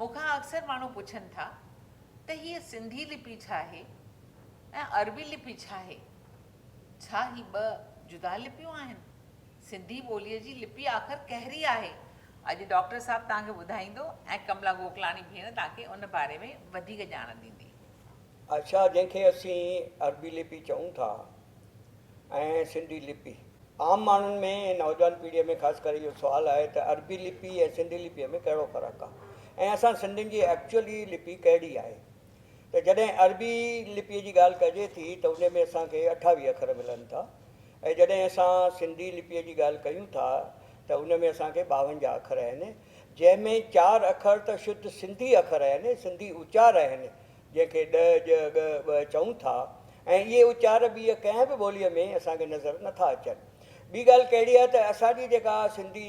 مون کان اڪثر ماڻهو پڇن ٿا ته هيء سنڌي لپي ڇا آهي ۽ عربي لپي ڇا آهي؟ ڇا هي ٻه جدا لپيون آهن؟ سنڌي ٻوليء جي لپي آخر ڪهڙي آهي؟ اڄ ڊاڪٽر صاحب توهان کي ٻڌائيندو ۽ ڪملا گوڪلاڻي ڀيڻ توهان کي ان باري ۾ وڌيڪ ڄاڻ ڏيندي. اڇا جنهن کي اسين عربي لپي چئون ٿا ۽ سنڌي لپي عام ماڻهن ۾ ۽ نوجوان پيڙهيء ۾ خاص ڪري اهو سوال آهي ته عربي لپي ۽ سنڌي لپيء ۾ ڪهڙو فرق آهي ۽ اسان سنڌين جي ايڪچوئلي لپي ڪهڙي آهي ته جڏهن عربي لپيء جي ڳالهه ڪجي ٿي ته ان ۾ اسان کي اٺاويهه اکر ملن ٿا ۽ جڏهن اسان سنڌي لپيء جي ڳالهه ڪيون ٿا ته ان ۾ اسان کي ٻاونجاهه اکر آهن جنهن ۾ چار اکر ته شڌ سنڌي اکر آهن سنڌي اچار آهن جنهن کي ڏء، ڄ، ڳ، ٻء چئون ٿا ۽ اهي اچار ٻيء ڪنهن به ٻوليء ۾ اسان کي نظر نه ٿا اچن. ٻي ڳالهه ڪهڙي آهي ته اسان جي جيڪا سنڌي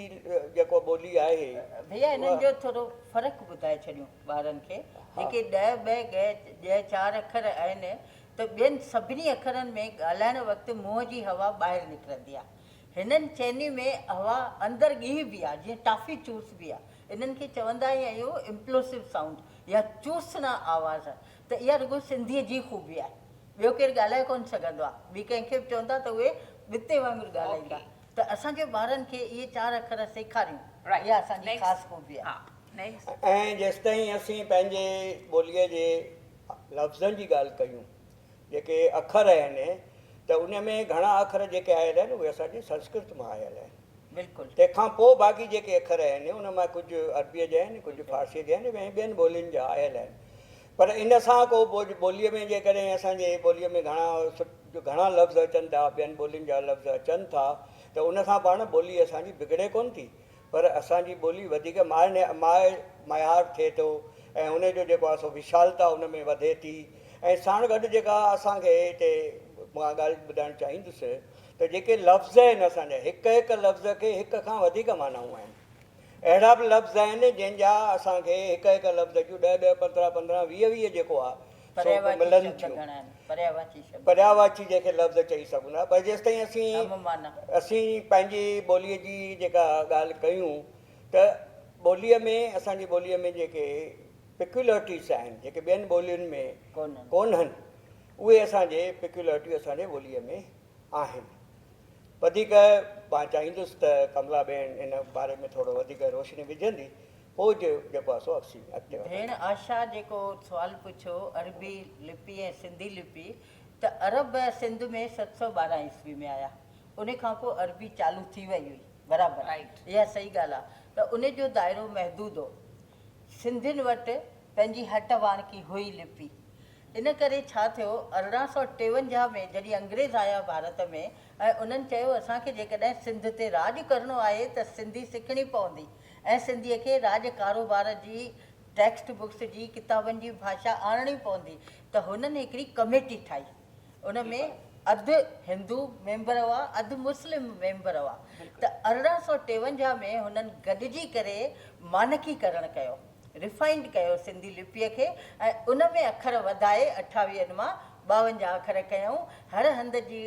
جيڪو ٻولي آهي ڀيا انهن جو ٿورو فرق ٻڌائي ڇڏيون ٻارن کي جيڪي ڏء، ٻء، ڳء، ڄ چار اکر آهن ته ٻين سڀني اکرن ۾ ڳالهائڻ وقت منهن جي هوا ٻاهر نڪرندي آهي. هنن چئني ۾ هوا اندر ڳهي بي آهي جيئن ٽافي چوسبي آهي انهن کي چوندا ئي آهيون Implosive Sound يا چوسنا آواز ته اها رڳو سنڌيء جي خوبي آهي. ٻيو ڪير ڳالهائي ڪونه سگهندو آهي. ٻي ڪنهن کي به چوندا ته اهي ٻتي وانگر ڳالهائيندا ته اسان کي ٻارن کي اهي چار اکر سيکاريون اها اسان جي خاص خوبي آهي. ۽ جيستائين اسين پنهنجي ٻوليء جي لفظن جي ڳالهه ڪيون جيڪي اکر اهن ته ان ۾ گهڻا اکر جيڪي آيل اهن اهي اسان جي سنسڪرت مان آيل اهن. بلڪل. تنهن کان پوء باقي جيڪي اکر اهن ان مان ڪجهه عربيء جا آهن ڪجهه فارسيء جا آهن ۽ ٻين ٻولين جا آيل اهن پر ان سان ڪو ٻوليء ۾ جيڪڏهن اسان جي ٻوليء ۾ گهڻا گهڻا لفظ اچن ٿا ٻين ٻولين جا لفظ اچن ٿا ته ان سان پاڻ ٻولي اسان جي بگڙي ڪونه ٿي پر اسان جي ٻولي وڌيڪ معنيٰ ميار ٿئي ٿو ۽ ان جو جيڪو آهي سو وشالتا ان ۾ وڌي ٿي ۽ ساڻ گڏ جيڪا اسان کي هتي مان ڳالهه ٻڌائڻ چاهيندس ته جيڪي لفظ آهن اسان جا هڪ هڪ لفظ کي هڪ کان وڌيڪ معنائون آهن اهڙا به لفظ آهن جنهن جا اسان کي هڪ هڪ لفظ جون ڏهه ڏهه پندرهن پندرهن ويهه ويهه جيڪو آهي سوڪ ملن ٿيون. پرياواچي جنهن کي لفظ چئي سگهون ٿا پر جيستائين اسين اسين پنهنجي ٻوليء جي جيڪا ڳالهه ڪيون ته ٻوليء ۾ اسان جي ٻوليء ۾ جيڪي پيڪيولرٽيز آهن جيڪي ٻين ٻولين ۾ ڪونهن اهي اسان جي پيڪيولرٽيون اسان جي ٻوليء ۾ آهن. وڌيڪ مان چاهيندس ته ڪملا ٻين ان باري ۾ ٿورو وڌيڪ روشني وجهندي پوء جو جيڪو آهي سو اسين اڳتي وڌنداسين. ڀيڻ آشا جيڪو سوال پڇيو عربي لپي ۽ سنڌي لپي ته عرب سنڌ ۾ ست سؤ ٻارهن عيسوي ۾ آيا ان کان پوء عربي چالو ٿي وئي هئي برابر اها صحيح ڳالهه آهي ته ان جو دائرو محدود هو سنڌين وٽ پنهنجي هٽ واڻڪي هئي لپي ان ڪري ڇا ٿيو ارڙهن سؤ ٽيونجاهه ۾ جڏهن انگريز آيا ڀارت ۾ ۽ انهن چيو اسان کي جيڪڏهن سنڌ تي راڄ ڪرڻو آهي ته سنڌي سکڻي پوندي ۽ سنڌي کي راڄ ڪاروبار جي ٽيڪسٽ بڪس جي ڪتابن جي ڀاشا آڻڻي پوندي ته هنن هڪڙي ڪميٽي ٺاهي ان ۾ اڌ هندو ميمبر هئا اڌ مسلم ميمبر هئا ته ارڙهن سؤ ٽيونجاهه ۾ هنن گڏجي ڪري مانڪي ڪرڻ ڪيو. ريفائنڊ ڪيو سنڌي لپيء کي ۽ ان ۾ اکر وڌائي اٺاويهن مان ٻاونجاهه اکر ڪيائون. هر هنڌ جي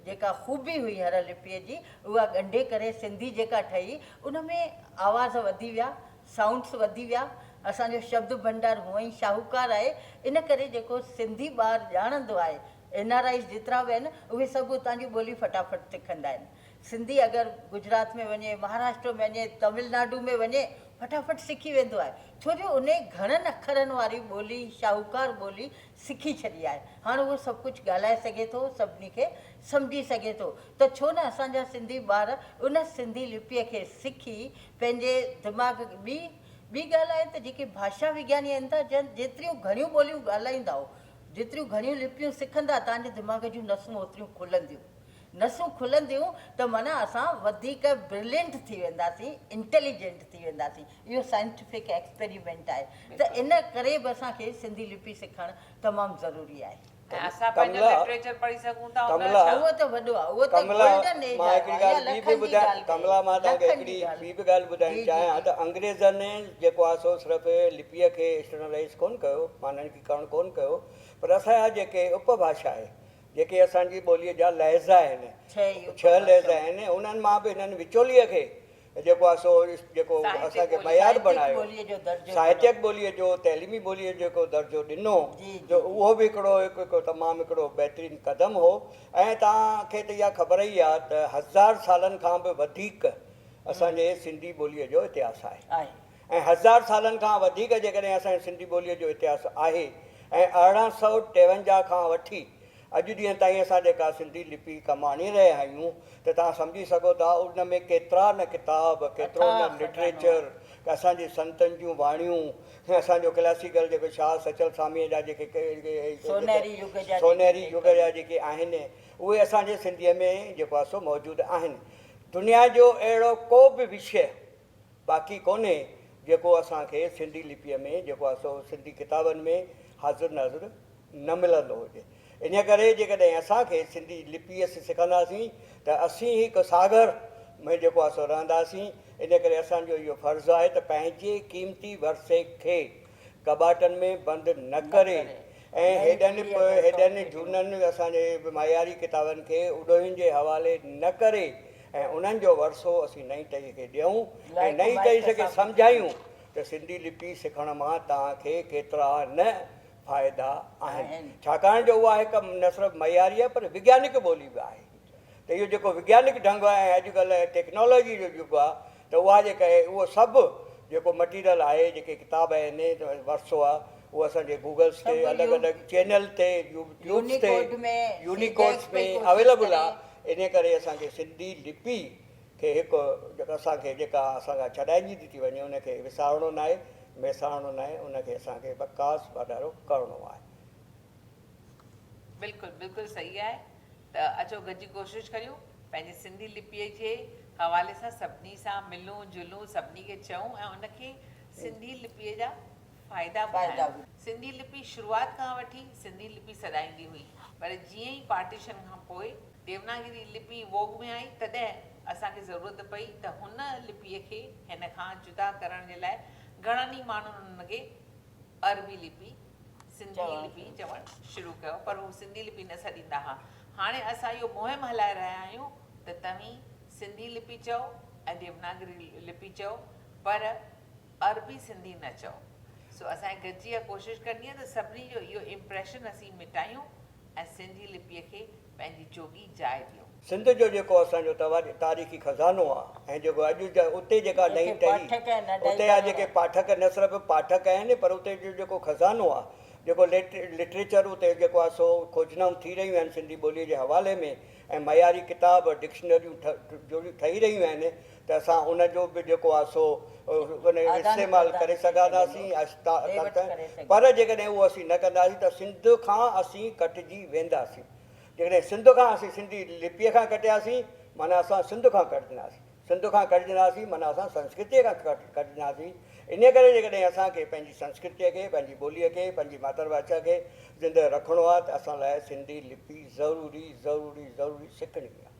جيڪا خوبي هئي هر لپيء جي اها ڳنڍي ڪري سنڌي جيڪا ٺهي ان ۾ آواز وڌي ويا، سائونڊس وڌي ويا. اسان جو شبد ڀنڊار هونء ئي شاهوڪار آهي ان ڪري جيڪو سنڌي ٻار ڄاڻندو آهي اين آر آئيز جيترا به آهن اهي سڀ اتان جي ٻولي فٽافٽ سکندا آهن. سنڌي اگر گجرات ۾ وڃي، مهاراشٽر ۾ وڃي، تامل ناڊو ۾ وڃي فٽافٽ سکي ويندو آهي ڇو جو انهي گهڻن اکرن واري ٻولي، شاهوڪار ٻولي سکي ڇڏي آهي. هاڻ اهو سڀ ڪجهه ڳالهائي سگهي ٿو، سڀني کي سمجهي سگهي ٿو ته ڇو نه اسان جا سنڌي ٻار ان سنڌي لپيء کي سکي پنهنجي دماغ ٻي ٻي ڳالهه آهي ته جيڪي ڀاشا وگياني آهن ته جن جيتريون گهڻيون ٻوليون ڳالهائيندائو، جيتريون گهڻيون لپيون سکندا تهنجي دماغ جون نسون اوتريون کلنديون نسون کلنديون ته معنيٰ اسان وڌيڪ برلينٽ ٿي وينداسين، انٽيليجنٽ ٿي وينداسين، اهو سائنٽيفڪ ايڪسپيريمينٽ آهي ته ان ڪري به اسان کي سنڌي لپي سکڻ تمام ضروري آهي. ۽ اسان پنهنجو لٽريچر پڙهي سگهون ٿا ان جو ڇا؟ اهو ته وڏو آهي، اهو ته گولڊن ايج آهي يا لکن جي ڳالهه ڪئي، لکن جي ڳالهه. ڪملا مان توهان کي هڪڙي ٻي به ڳالهه ٻڌائڻ جي جي چاهيان جي. ته انگريزن جيڪو آهي سو صرف لپيء کي اسٽرنلائيز ڪونه ڪيو، معنيٰ ان کي ڪرڻ ڪونه ڪيو، پر اسان جا جيڪي اپڀاشا آهي جيڪي اسان جي ٻوليء جا لهجا آهن، ڇهه لهجا آهن، انهن مان به هن وچوليء کي جيڪو آهي سو جيڪو اسان کي معيار بڻايو، ساهتيڪ ٻوليء جو، تعليمي ٻوليء جو جيڪو درجو ڏنو، جو اهو به هڪڙو هڪ تمام هڪڙو بهترين قدم هو ۽ توهان کي ته اها خبر ئي آهي ته هزار سالن کان به وڌيڪ اسان جي سنڌي ٻوليء جو اتهاس آهي. ۽ هزار سالن کان وڌيڪ جيڪڏهن اسان جي سنڌي ٻوليء جو اتهاس آهي ۽ ارڙهن سؤ ٽيونجاهه کان وٺي اڄ ڏينهن تائين اسان جيڪا سنڌي لپي ڪم آڻي رهيا آهيون ته توهان سمجهي سگهو ٿا ان ۾ ڪيترا نه ڪتاب، ڪيترو نه لٽريچر، اسان جي سنتن جون واڻيون، اسان جو ڪلاسيڪل جيڪو شاهه سچل ساميء جا جيڪي سونهري يگ جا جيڪي آهن اهي اسان جي سنڌيء ۾ جيڪو آهي سو موجود آهن. دنيا جو اهڙو ڪو به وشيه باقي ڪونهي جيڪو اسان کي سنڌي لپيء ۾ جيڪو آهي سو سنڌي ڪتابن ۾ حاضر ناظر نه ملندو هجي. انهيء ڪري جيڪڏهن اسان کي سنڌي لپيء سکنداسين ته اسين هڪ ساگر ۾ جيڪو آهي سو رهنداسين. انهيء ڪري اسان جو اهو فرض آهي ته پنهنجي قيمتي ورثي کي ڪٻاٽن ۾ بند نه ڪري ۽ هيڏن به هيڏن جهونن اسان جي معياري ڪتابن کي اڏوهين جي حوالي نه ڪري ۽ انهن جو ورثو اسين نئين ٽهيء کي ڏيون ۽ نئين ٽهيء کي سمجهايون ته سنڌي لپي سکڻ مان توهان کي ڪيترا نه فائدا آهن ڇاڪاڻ جو اها هڪ نه صرف معياري آهي پر وگيانڪ ٻولي به آهي ته اهو جيڪو وگيانڪ ڍنگ ۽ اڄڪلهه ٽيڪنالاجي جو يگ آهي ته اها جيڪا آهي اهو سڀ جيڪو مٽيريل آهي جيڪي ڪتاب آهن ورثو آهي اهو اسان جي گوگلس تي الڳ الڳ چينل تي يوٽيوبس تي يونيڪوڊس ۾ اويليبل آهي انهي ڪري اسان کي سنڌي لپي کي هڪ جيڪا اسان کي جيڪا اسان کان ڇڏائجي ٿي ٿي وڃي ان کي وسارڻو ناهي ميسارڻو ناهي ان کي اسان کي وڪاس واڌارو ڪرڻو آهي. بلڪل بلڪل صحيح آهي ته اچو گڏجي ڪوشش ڪريون پنهنجي سنڌي لپيء جي حوالي سان سڀني سان ملون جلون سڀني کي چئون ۽ ان کي سنڌي لپيء جا فائدا ٻڌايون. سنڌي لپي شروعات کان وٺي سنڌي لپي سڏائيندي هئي پر جيئن ئي پارٽيشن کان پوء ديوناگري لپي ووڳ ۾ آئي تڏهن اسان کي ضرورت پئي ته هن لپيء کي هن کان جدا ڪرڻ جي لاء گهڻن ئي ماڻهن ان کي عربي لپي سنڌي لپي چوڻ شروع ڪيو پر هو سنڌي لپي نه سڏيندا ها. هاڻي اسان اهو مهم هلائي رهيا آهيون ته توهين سنڌي لپي چئو ۽ ديوناگري لپي چئو پر عربي سنڌي نه چئو. سو اسان کي گڏجي اها ڪوشش ڪرڻي آهي ته سڀني جو اهو امپريشن اسين مٽايون ۽ سنڌي لپيء کي پنهنجي جوڳي جاء ڏيو. سنڌ جو جيڪو اسان جو تاريخي خزانو آ ۽ جيڪو اڄ اتي جيڪا نئين ٽهي اتي آ جيڪي پاٺڪ نه صرف پاٺڪ آهن پر اتي جو جيڪو خزانو آ جيڪو لٽريچر اتي جيڪو آ سو کوجنائون ٿي رهيون آهن سنڌي ٻوليء جي حوالي ۾ ۽ معياري ڪتاب ڊڪشنريون جو ٺهي رهيون آهن ته اسان ان جو به جيڪو آهي سو استعمال ڪري سگهنداسين پر جيڪڏهن اهو اسين نه ڪنداسين ته سنڌ کان اسين ڪٽجي وينداسين جيڪڏهن سنڌ کان اسين سنڌي لپيء کان ڪٽياسين معنيٰ اسان سنڌ کان ڪٽجنداسين سنڌ کان ڪٽجنداسين معنيٰ اسان سنسڪرتيء کان ڪٽجنداسين انهيء ڪري جيڪڏهن اسان کي پنهنجي سنسڪرتيء کي پنهنجي ٻوليء کي پنهنجي ماتر ڀاشا کي زندهه رکڻو آهي ته اسان لاء سنڌي لپي ضروري ضروري ضروري سکڻي آهي